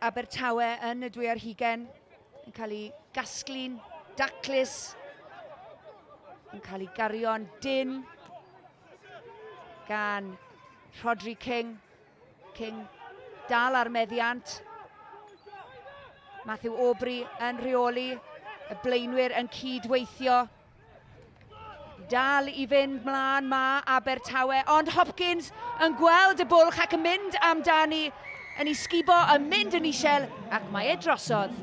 Abertawe yn y dwy ar hugen yn cael ei gasglu'n daclus, yn cael ei gario'n dyn gan Rhodri King. King dal ar meddiant. Matthew Aubrey yn rheoli, y blaenwyr yn cyd-weithio. Dal i fynd mlaen ma Abertawe, ond Hopkins yn gweld y bwlch ac yn mynd amdani, yn ei sgubo, yn mynd yn isel, ac mae e drosodd.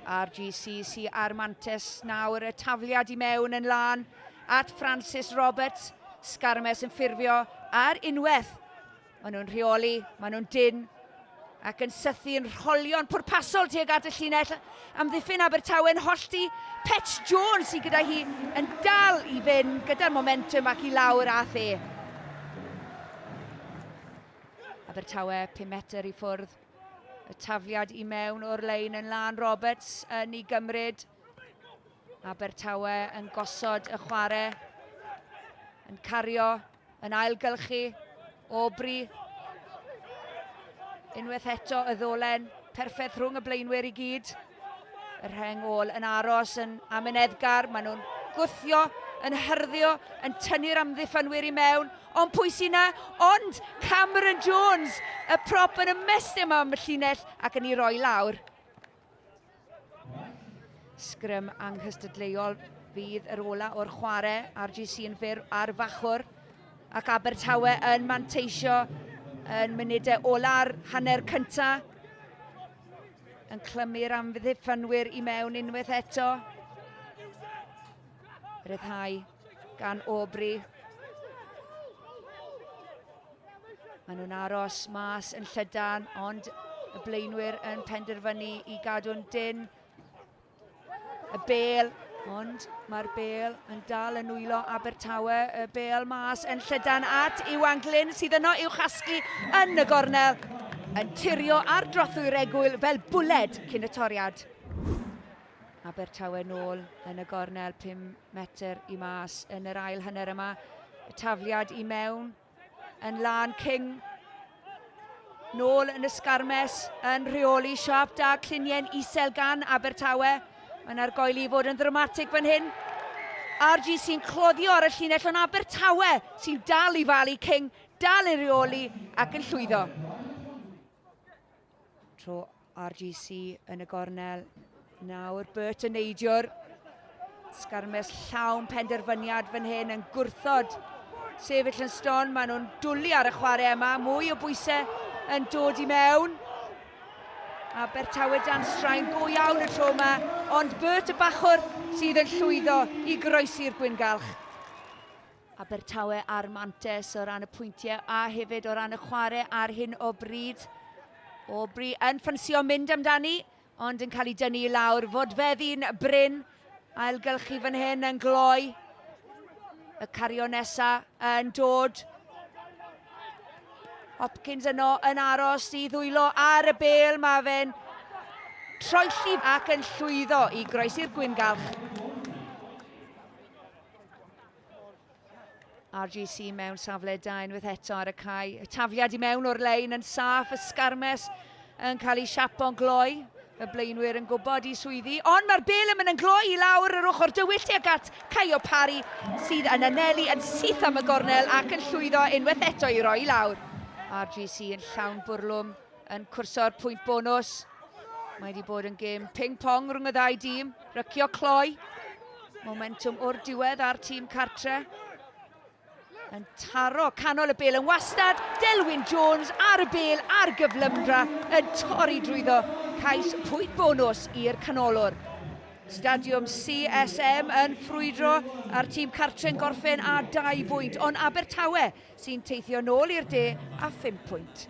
RGCC a'r Mantes nawr y tafliad i mewn yn lan at Francis Roberts, Scarmes yn ffurfio ar unwaith Maen nhw'n rheoli, maen nhw'n dyn ac yn sythu yn rholion pwrpasol tuag at y llinell. Amddiffyn Abertawe'n hollti. Petch Jones sydd gyda hi yn dal i fynd gyda'r momentum ac i lawr a the. Abertawe 5 metr i ffwrdd. Y tafliad i mewn o'r lein yn Lan Roberts yn ei gymryd. Abertawe yn gosod y chwarae, yn cario, yn ailgylchu, Aubrey. Unwaith eto y ddolen, perffaith rhwng y blaenwyr i gyd. Y rheng ôl yn aros yn Amin Edgar, maen nhw'n gwthio, yn hyrddio, yn tynnu'r amddiffynwyr i mewn, ond pwy sy'n na? Ond Cameron Jones, y prop yn ymestyn am y llinell ac yn ei roi lawr. Sgrym anghystadleuol fydd yr ola o'r chwarae. RGC yn fyr ar y fachwr. Ac Abertawe yn manteisio yn munudau ola'r hanner cynta. Yn clymu'r amddiffynwyr i mewn unwaith eto. Ryddhau gan Aubrey. Maen nhw'n aros mas yn llydan, ond y blaenwyr yn penderfynu i gadw'n dyn. Y bel, ond mae'r bel yn dal yn nwylo Abertawe. Y bel mas yn llydan at Iwan Glyn sydd yno i'w chasglu yn y gornel. Yn tirio ar drothwy'r egwyl fel bwled cyn y toriad. Abertawe nôl yn y gornel 5 metr i mas yn yr ail hanner yma. Y tafliad i mewn yn lan King. Nôl yn y sgarmes yn rheoli siap da cluniau'n isel gan Abertawe. Mae yna'r goeli i fod yn ddramatig fan hyn. RG sy'n cloddio ar y llinell o'n Abertawe sy'n dal i falu King, dal i reoli ac yn llwyddo. Tro RGC yn y gornel. Nawr Bert yn neidio'r sgarmes llawn penderfyniad fan hyn yn gwrthod sefyll yn ston. Maen nhw'n dwlu ar y chwarae yma. Mwy o bwysau yn dod i mewn. A Bertawe dan straen go iawn y tro yma. Ond Bert y bachwr sydd yn llwyddo i groesi'r gwyngalch. Abertawe a'r Mantes o ran y pwyntiau a hefyd o ran y chwarae ar hyn o bryd. Aubrey yn ffansio mynd amdani, ond yn cael ei dynnu i lawr. Fodfeddi'n bryn, ailgylchu fan hyn yn gloi. Y cario nesa yn dod. Hopkins yno yn aros i ddwylo ar y bel. Mae fe'n troelli ac yn llwyddo i groesi'r gwyngalch. RGC mewn safle da unwaith eto ar y cae. Y tafliad i mewn o'r lein yn saff, y sgarmes yn cael ei siapo'n gloi. Y blaenwyr yn gwybod i swyddi, ond mae'r bel yn mynd yn gloi i lawr yr ochr dywyll tuag at Caio Pari, sydd yn anelu yn syth am y gornel ac yn llwyddo unwaith eto i roi i lawr. RGC yn llawn bwrlwm, yn cwrso'r pwynt bonus. Mae wedi bod yn gêm ping-pong rhwng y ddau dîm. Rycio cloi. Momentum o'r diwedd ar tîm cartre. Yn taro canol y bel yn wastad. Delwyn Jones ar y bel ar gyflymdra yn torri drwyddo. Cais pwynt bonus i'r canolwr. Stadiwm CSM yn ffrwydro a'r tîm cartre'n gorffen a dau fwynt, ond Abertawe sy'n teithio nôl i'r de a phum pwynt.